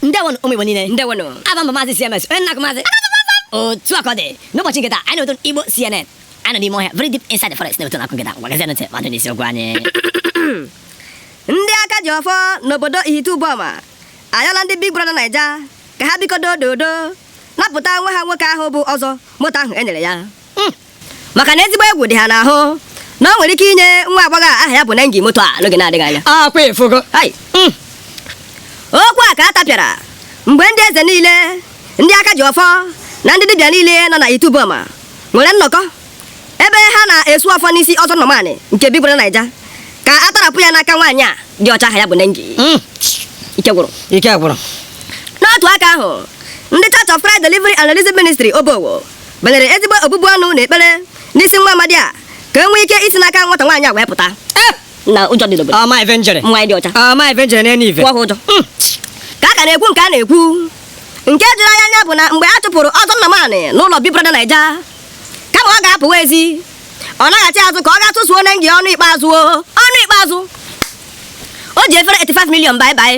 ndewonụ ụmụ igbo niile ndewonụ aha m bụ maazị cms onye nna maazị otu a ka ọ dị n'ụbọchị nke taa anyị na-eto igbo cnn anyị nọ n'ime ọhịa very deep inside the forest na-ewetara unu akụkọ nke taa ngwa gezie ntị ma dị n'isiokwu anyị ndị aka ji ọfọ n'obodo ihite ụbọma ayọla ndị big brother naija ka ha biko dodo napụta nwa ha nwoke ahụ bụ ọzọ moto ahụ e nyere ya maka na ezigbo egwu dị ha n'ahụ na o nwere ike inye nwa agbọghọ a aha ya bụ Nengi moto a n'oge na-adịghị anya akwa efugo Hai! Mm. okwu a ka a tapịara mgbe ndị eze niile ndị aka ji ọfọ na ndị dibịa niile nọ na ihite ụbọma nwere nnọkọ ebe ha na-esu ọfọ n'isi ọzọ nọmanị nke big brother naija ka a tọrapụ ya n'aka nwaanyị a dị ọcha aha ya bụ nengi Mm, ike gwụrụ ike gwụrụ n'otu aka ahụ ndị church of christ delivery and release ministry obowo banyere ezigbo obubu ọnụ na ekpere n'isi nwa amadi a ka e nwee ike isi n'aka nwata nwaanyị a wee pụta eh! na ụjọ dị n'obodo ọma ife njere nwaanyị dị ọcha ọma ife njere n'elu ife kwụọ ụjọ hmm. ka a ka na-ekwu nke a na-ekwu nke juru anyị anya bụ na mgbe a chụpụrụ ọzọ nna maanị n'ụlọ big brother naija kama ọ ga-apụwa ezi ọ naghachi azụ ka ọ ga susuo nengi ọnụ ikpeazụ ọnụ ikpeazụ o ji efere 85 million bye bye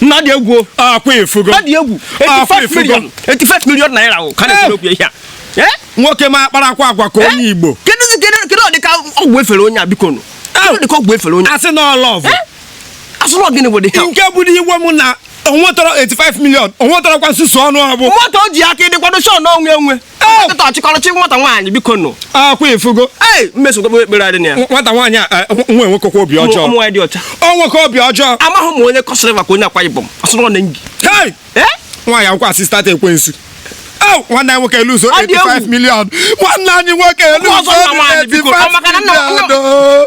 nna dị egwu o. akwa efugo ọ dị egwu Afọ 85 efugo. million 85 million naira o ka na-ekwuru okwu ihe a Eh? nwoke m akparakwa agwa ka onye igbo kedu kedu kedu ọdịka ọgwụ e fere onye a biko nụ kedu ọdịka ọgwụ e fere onye a a sị na ọ love asụrụ gịnị bụ dịka nke bụrụ iwe m na o nwetọrọ 85 million o nwetọrọkwa nsusu ọnụ ọ bụ moto o ji aka ịdịkwado shon onwe onwe dọkịta ọchịkọrọchị nwata nwaanyị biko nụ akwa efugo ee mmeso gogbo ekpere adị na ya nwata nwaanyị a eh, nwa nwa enwekakwa obi ọjọọ ụmụ nwaanyị dị ọcha enweka obi ọjọọ amaghị m onye kọsịrị maka onye akwa ibom ọsọrọ nengi hei ee nwaanyị akwụkwọ assistant ekwensu Au, nwanne anyị nwoke eluzuo Ọ dị egwu. 85 million nwanne anyị nwoke eluzuo ọzọ nna nwaanyị biko ọ maka na nna 85 million